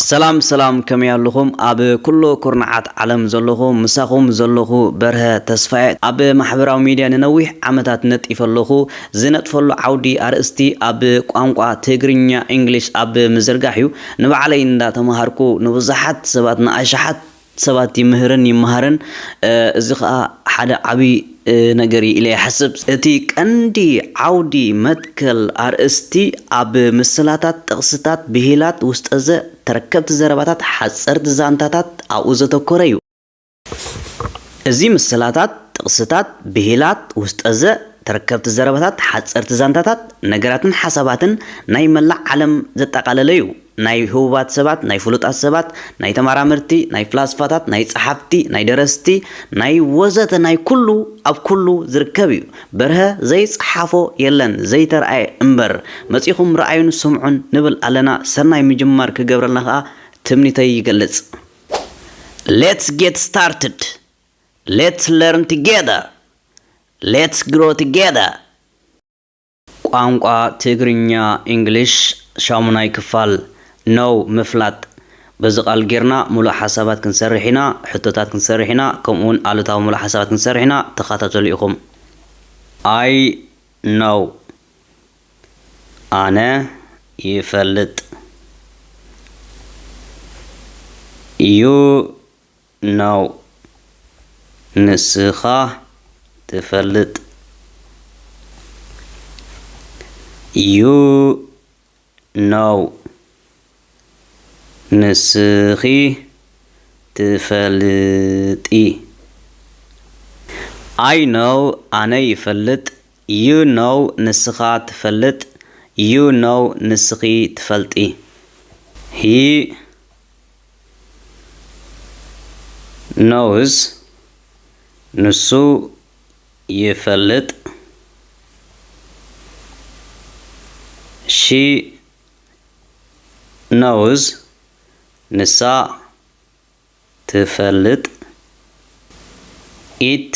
ሰላም ሰላም ከመይ ኣሉኹም ኣብ ኩሉ ኩርናዓት ዓለም ዘለኹ ምሳኹም ዘለኹ በርሀ ተስፋየ ኣብ ማሕበራዊ ሚድያ ንነዊሕ ዓመታት ነጢፈ ኣለኹ ዝነጥፈሉ ዓውዲ ኣርእስቲ ኣብ ቋንቋ ትግርኛ ኢንግሊሽ ኣብ ምዝርጋሕ እዩ ንባዕለይ እንዳተማሃርኩ ንብዙሓት ሰባት ንኣሽሓት ሰባት ይምህርን ይመሃርን እዚ ከኣ ሓደ ዓቢ ነገር እዩ ኢለ ይሓስብ። እቲ ቀንዲ ዓውዲ፣ መትከል፣ ኣርእስቲ ኣብ ምስላታት፣ ጥቕስታት፣ ብሂላት፣ ውስጠዘ፣ ተረከብቲ ዘረባታት፣ ሓጸርቲ ዛንታታት ኣብኡ ዘተኮረ እዩ። እዚ ምስላታት፣ ጥቕስታት፣ ብሂላት፣ ውስጠዘ፣ ተረከብቲ ዘረባታት፣ ሓጸርቲ ዛንታታት፣ ነገራትን ሓሳባትን ናይ መላእ ዓለም ዘጠቓለለ እዩ። ናይ ህቡባት ሰባት፣ ናይ ፍሉጣት ሰባት፣ ናይ ተማራመርቲ፣ ናይ ፍላስፋታት፣ ናይ ጸሓፍቲ፣ ናይ ደረስቲ፣ ናይ ወዘተ ናይ ኩሉ ኣብ ኩሉ ዝርከብ እዩ። በርሀ ዘይጸሓፎ የለን ዘይተርኣየ እምበር። መጺኹም ርኣዩን ስምዑን ንብል ኣለና ሰናይ ምጅማር ክገብረልና ከኣ ትምኒተይ ይገልጽ። Let's get started! Let's learn together! Let's grow together! ቋንቋ ትግርኛ ኢንግሊሽ ሻሙናይ ክፋል Know ምፍላጥ በዚ ቃል ጌርና ምሉእ ሓሳባት ክንሰርሕ ኢና ሕቶታት ክንሰርሕ ኢና ከምኡ ውን ኣሉታዊ ምሉእ ሓሳባት ክንሰርሕ ኢና ተኻታተሉ ኢኹም I know ኣነ ይፈልጥ You ኖው ንስኻ ትፈልጥ ዩ ኖው ንስኺ ትፈልጢ ኣይ ኖው ኣነ ይፈልጥ ዩ ኖው ንስኻ ትፈልጥ ዩ ኖው ንስኺ ትፈልጢ ሂ ነውዝ ንሱ ይፈልጥ ሺ ነውዝ ንሳ ትፈልጥ ኢት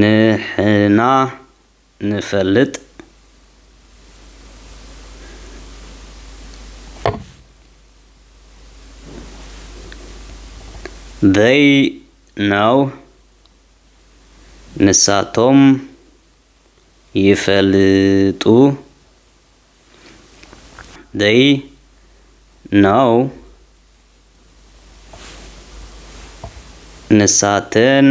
ንሕና ንፈልጥ They know ንሳቶም ይፈልጡ They know ንሳተን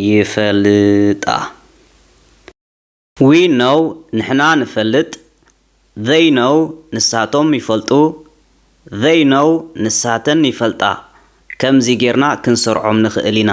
ይፈልጣ። We know ንሕና ንፈልጥ። They know ንሳቶም ይፈልጡ። They know ንሳተን ይፈልጣ። ከምዚ ጌርና ክንሰርዖም ንኽእል ኢና።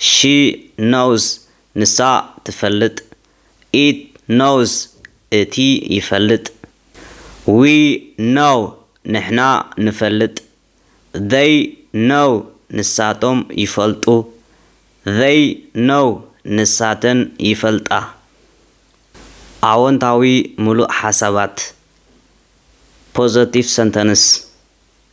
ሺ ኖውስ ንሳ ትፈልጥ ኢት ኖውስ እቲ ይፈልጥ ዊ ኖው ንሕና ንፈልጥ ዘይ ኖው ንሳቶም ይፈልጡ ዘይ ኖው ንሳተን ይፈልጣ ኣወንታዊ ምሉእ ሓሳባት ፖዘቲቭ ሰንተንስ።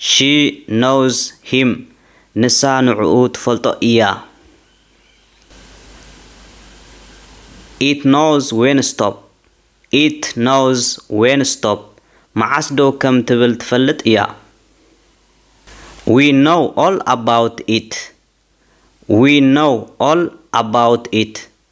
ሺ ኖውዝ ሂም፣ ንሳ ንዕኡ ትፈልጦ እያ። ኢት ኖውዝ ዌን ስቶፕ፣ It knows when to stop፣ መዓስ ደው ከም ትብል ትፈልጥ እያ። ዊ ኖው ኦል ኣባውት ኢት፣ We know all about it፣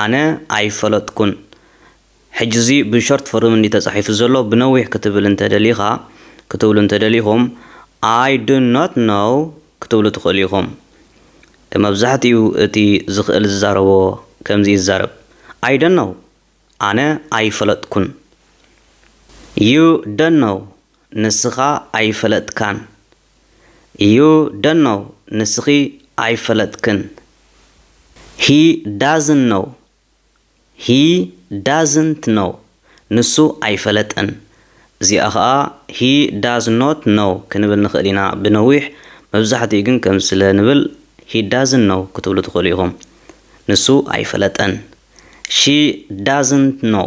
ኣነ ኣይፈለጥኩን ሕጂ እዚ ብ ሾርት ፎርም እንድዩ ተጻሒፉ ዘሎ ብነዊሕ ክትብል እንተ ደሊካ ክትብሉ እንተ ደሊኩም ኣይ ዱ ኖት ኖው ክትብሉ ትክእሉ ኢኩም መብዛሕትኡ እቲ ዝክእል ዝዛረቦ ከምዚ እዩ ዝዛረብ ኣይ ዶን ኖው ኣነ ኣይፈለጥኩን ዩ ዶን ኖው ንስካ ኣይፈለጥካን ዩ ዶንት ኖው ንስኺ ኣይፈለጥክን ሂ ዳዝንት ኖው ሂ ዳዝንት ኖው ንሱ ኣይፈለጠን እዚኣ ኸኣ ሂ ዳዝ ኖት ኖው ክንብል ንኽእል ኢና ብነዊሕ መብዛሕትኡ ግን ከምዚ ስለ ንብል ሂ ዳዝንት ኖው ክትብሉ ትኽእሉ ኢኹም ንሱ ኣይፈለጠን ሺ ዳዝንት ኖው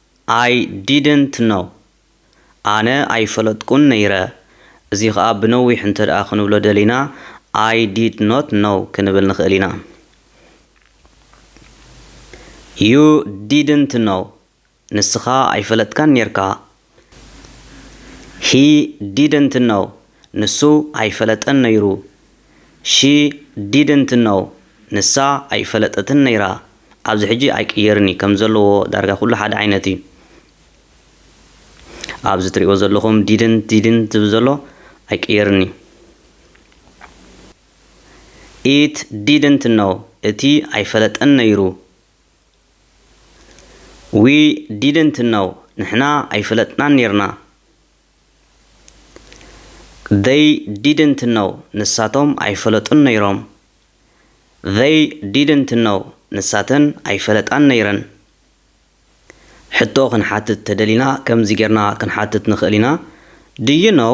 ኣይ ዲድንት ኖው፣ ኣነ ኣይፈለጥኩን ነይረ፣ እዚ ኸኣ ብነዊሕ እንተድኣ ክንብሎ ደሊና ኣይ ዲድ ኖት ኖው ክንብል ንኽእል ኢና። ዩ ዲድንት ኖው፣ ንስኻ ኣይፈለጥካን ኔርካ። ሂ ዲድንት ኖው፣ ንሱ ኣይፈለጠን ነይሩ she didn't know ንሳ ኣይፈለጠትን ነይራ ኣብዚ ሕጂ ኣይቅየርን እዩ ከም ዘለዎ ዳርጋ ኩሉ ሓደ ዓይነት እዩ ኣብዚ ትሪእዎ ዘለኹም didn't didn't ዝብል ዘሎ ኣይቅየርን እዩ it didn't know እቲ ኣይፈለጠን ነይሩ we didn't know ንሕና ኣይፈለጥናን ነይርና They didn't know ንሳቶም ኣይፈለጡን ነይሮም። They didn't know ንሳተን ኣይፈለጣን ነይረን። ሕቶ ክንሓትት ተደሊና ከምዚ ጌርና ክንሓትት ንኽእል ኢና፣ Do you know?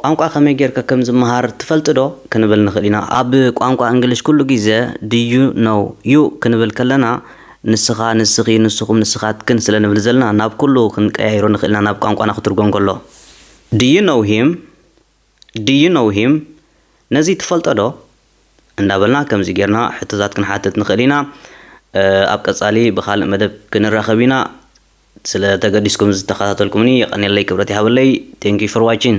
ቋንቋ ከመይ ጌርካ ከም ዝመሃር ትፈልጥ ዶ? ክንብል ንኽእል ኢና። ኣብ ቋንቋ እንግሊሽ ኩሉ ግዜ do you know you ክንብል ከለና ንስኻ፣ ንስኺ፣ ንስኹም፣ ንስኻትክን ስለ ንብል ዘለና ናብ ኩሉ ክንቀያይሮ ንኽእል ኢና ናብ ቋንቋና ክትርጎም ከሎ። Do you know him? Do you know him? ነዚ ትፈልጦ ዶ? እንዳበልና ከምዚ ጌርና ሕቶታት ክንሓትት ንኽእል ኢና። ኣብ ቀጻሊ ብኻልእ መደብ ክንራኸብ ኢና። ስለ ተገዲስኩም ዝተከታተልኩምኒ የቀኔለይ ክብረት ይሃበለይ thank you for watching።